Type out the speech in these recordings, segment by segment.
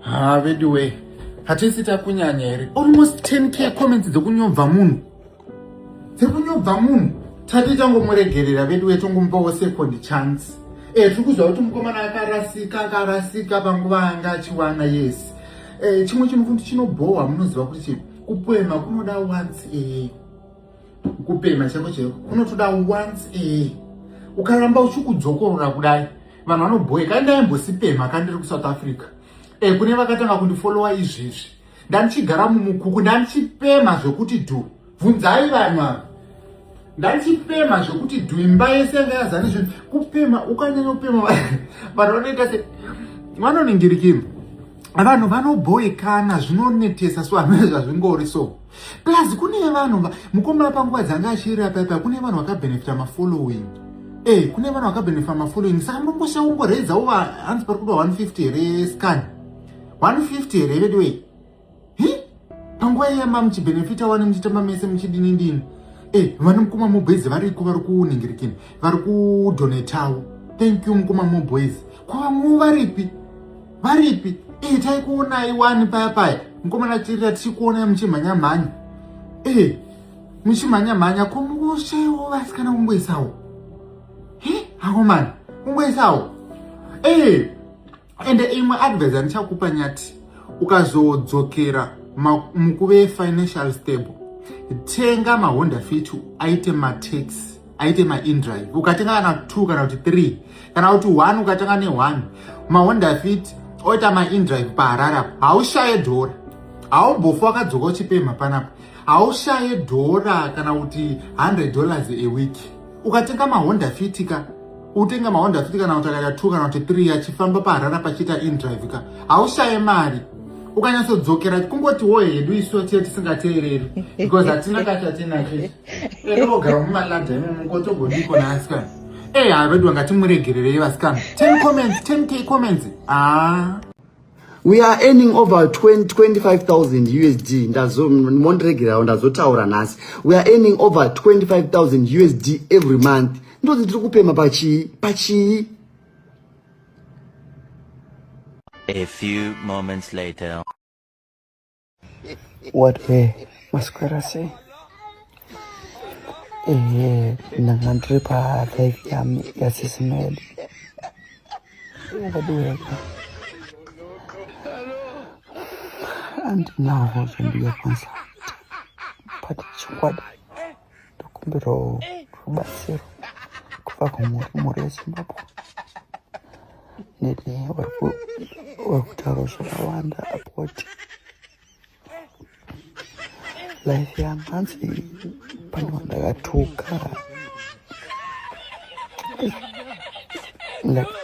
ha veduwe hatisi takunyanya here almost 10k comments dzekunyobva munhu dzekunyobva munhu tati tangomuregerera veduwe tongomupawo second chance e eh, tiri kuziva kuti mukomana akarasika akarasika panguva anga achiwana yes e, chimwe chinhu kuti chinobhohwa munoziva kuti chii kupoema kunoda once e, kupema chaiko chaiko kunotoda once ee ukaramba uchikudzokorora kudai vanhu vanobhoye kai ndaimbosipema ka ndiri kusouth africa e kune vakatanga kundifollowa izvezvi ndandichigara mumukuku ndandichipema zvekuti dhu bvunzai vanhu ava ndandichipema zvekuti dhu imba yese yanga yazani zvinhu kupema ukanyanya kupema vanhu vanoita se vanoningirikima vanhu vanobhoyekana zvinonetesa so hamene zvazvingori so plus kune vanhu mukomana panguva dzanga achirira paipa kune vanhu vakabenefita mafollowing e eh, kune vanhu vakabenefita mafollowing saka mongosha womboredzawo hanzi pari kuda 150 here scan 150 here veduwei panguva iya mamuchibenefita wani muchitamba mese muchidini ndini e eh, vana mukoma moboys variko vari kuningirikini vari kudonetawo thank you mukoma moboys kwavamwe varipi varipi ee eh, taikuonai wani paya paya mukomana chirira tichikuonai muchimhanyamhanya ee eh, muchimhanyamhanya ko mukushaiwo vasikana kungoisawo he hakomana kungoisawo ee eh, ende imwe advise andichakupa nyati ukazodzokera mukuve financial stable tenga mahonda fit aite mataxi aite maindrive ukatenga kana two kana kuti three kana kuti one ukatanga neone mahonda fit oita maindrive paharara haushaye dhora haumbofa wakadzoka uchipemha panapa haushaye dhora kana kuti 100 dollars a week ukatenga mahonda fit ka utenga mahonda fit kana kuti akaita two kana kuti three achifamba paharara pachiita indrive ka haushaye mari ukanyatsodzokera kungotiwo hedu isu tiye tisingateereri because hatina kachatinacho Elogara mumalada imomo kotogodiko naasikana. Eh, hayi vedu vangati muregererei vasikana. 10 comments, 10k comments. Ah. We are earning over 20, 25,000 USD. Ndazo mondiregerawo ndazotaura nhasi. We are earning over 25,000 USD every month. Ndozi tiri kupema pachii? Pachii? A few moments later. What he maswera sei ehe ndanga ndiri palive yam yasisi medi vadiweka andinavo zvandiyakwanisa but chokwadi ndokumbirawo rubatsiro kubva kumhuri mhuri yezimbabwe nene vari kutaura zvakawanda apoti life yangu hanzi pane vandakatuka like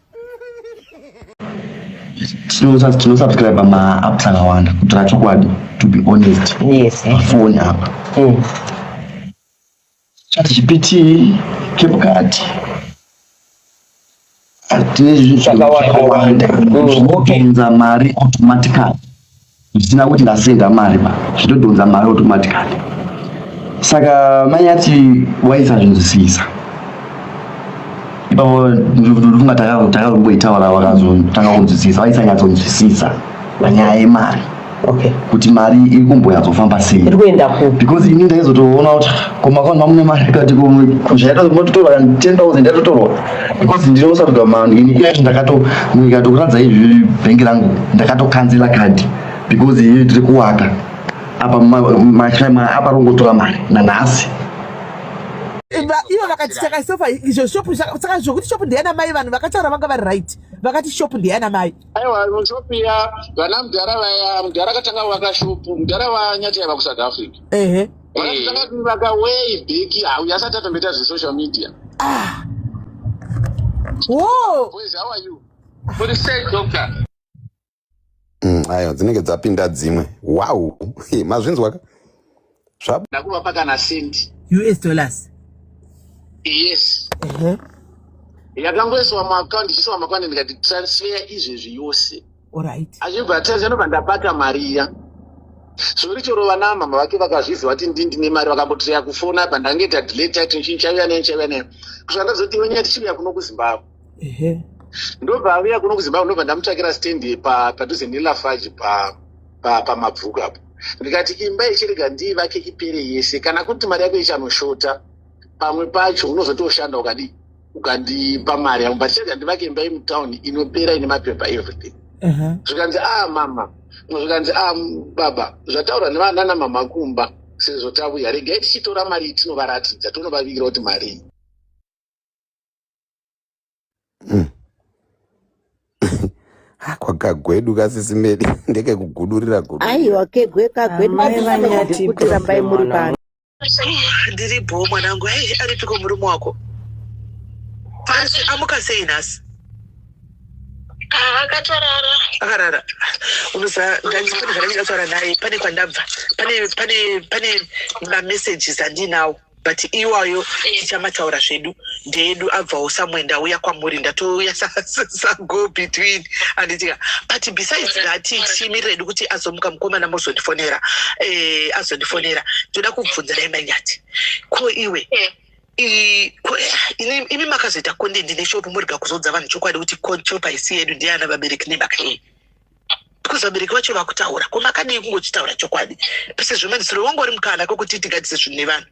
tinosubscribe maapps akawanda kutira chokwadi to be honest yes, eh. foni apa mm. chatgpt capcat tine zvinhu zvakawanda mm, zvinounza mari automatically zvisina kuti ndasenda mari ba zvitodhonza mari automatically saka mai ati waisa zvinhu zvisisa ipapo ndikufunga takarumboitaura vakazotanga kunzwisisa vaisanyatsonzwisisa panyaya yemari okay. kuti mari iri kumbonyatsofamba sei because ini ndaizotoona kuti komakaundi mamune mari kati kuzvaita kuti mototorwa 10 000 yatotorwa because ndiri kusarudwa mani ini iye ndakato ndikatokuratidza izvi bhengi rangu ndakatokanzila kadhi because iye tiri kuwaka apa mashama apa rongotora mari nanhasi ivo vakati saka sofa izvo shop saka zvokuti shop ndeyana mai vanhu vakataura vanga vari right vakati shop ndeyana mai aiwa shop ya vana mudhara vaya mudhara akatanga vaka shop mudhara vanyati yava kusouth africa ehe vakaivaka way back hau yasati atomboita zvesocial media ah. mm, ayo dzinenge dzapinda dzimwe wow mazvinzwaka zvakuvapa kana sendi us dollars yes uh-huh. yakangoiswa muaccount ichiiswa muaccount ndikati transfer izvezvi yose orit achibva atazva nobva ndabata mari iya zvori choro vanamama vake vakazviziva kuti ndi ndine mari vakambotreya kufona pa ndange tadile title chii chaiuya nei chaiuya nei kusvika ndazoti iwe nyaya tichiuya kuno kuzimbabwe ndobva auya kuno kuzimbabwe ndobva ndamutsvakira standi padhuze nelafaji pamabvuku apo ndikati imba ichirega ndii vake ipere yese kana kuti mari yako ichanoshota pamwe pacho unozotoshanda ukadii ukandipa mari yangu but chega ndivake imba yemutown inopera ine mapepa everything uh-huh. zvikanzi a ah, mama zvikanzi a ah, baba zvataurwa nevanana mama kumba sezvo tavuya regai tichitora mari tinovaratidza tonovavigira kuti marii mm. kwakagwedu kasisimedi ndekekugudurira gudu aiwa kegwe kagwedu ah, vanyati kuti rambai muri pano ndiri bho mwanangu hei aripiko murume wako pasi amuka sei nhasi akatorara akarara unoziva ndandipane zvandange ndataura naye pane kwandabva pane pane pane mamessages andinawo but iwayo tichamataura zvedu ndeedu abvawo somewhere ndauya kwamuri ndatouya sago between anditika but besides that timirira hedu kuti azomuka mukomana mozondifonera eh, azondifonera ndoda kubvunza dai manyati ko iwe imi makazoita content neshopu murega kuzodza vanhu chokwadi kuti shopu haisi yedu ndiana vabereki nemakei because vabereki vacho vakutaura ko makadii kungochitaura chokwadi pese zvemadzisiro wanga uri mukana kokuti tigadise zvinhu nevanhu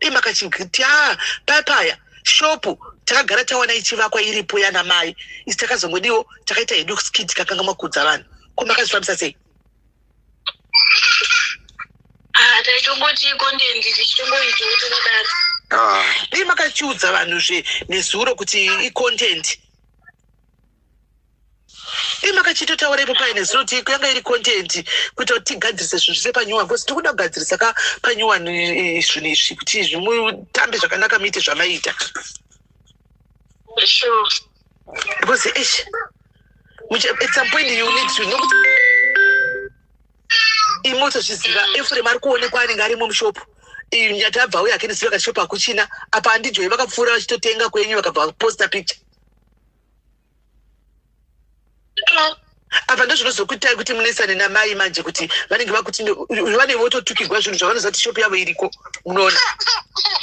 Dema kachigiti ah papaya shopu takagara tawana ichivakwa iripo yana mai isi takazongodiwo takaita hedu skit kakanga makudza vanhu ko makazvifambisa sei Ah, taichongoti iko ndiye ndichichingoita kuti kudaro Ah, dei makachiudza vanhu zve nezuro kuti icontent ii makachitotaura ipo paine zero ti yanga iri content kuita kuti tigadzirise zvinhu zvise panyuwani bcause tiri kuda kugadzirisa ka panyuwani eh, zvinhu izvi kuti zvimutambe zvakanaka muite zvamaita because ish at some point you need to nokuti imotozviziva efuremu ari kuonekwa anenge arimo mushopu nyata abva uye akendisiva kashopu akuchina apa andijoi vakapfuura vachitotenga kwenyu vakabva vaposta picture apa ndozvinozokuitai kuti munesane namai manje kuti vanenge vakuti vanenge vototukirwa zvinhu zvavanoziva kuti shopu yavo iriko munoona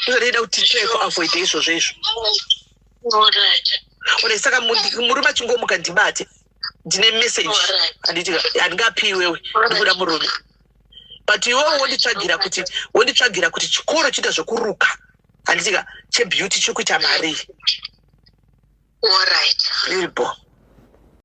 ndozvanoida kuti ticheko avoide izvozvo izvo one saka murume achingomuka ndibate ndine message handingapiwewe ndikuda murume but iwe wonditsvagira kuti wonditsvagira kuti chikoro chiita zvekuruka handitika chebeauty chiri kuita marii orit irbo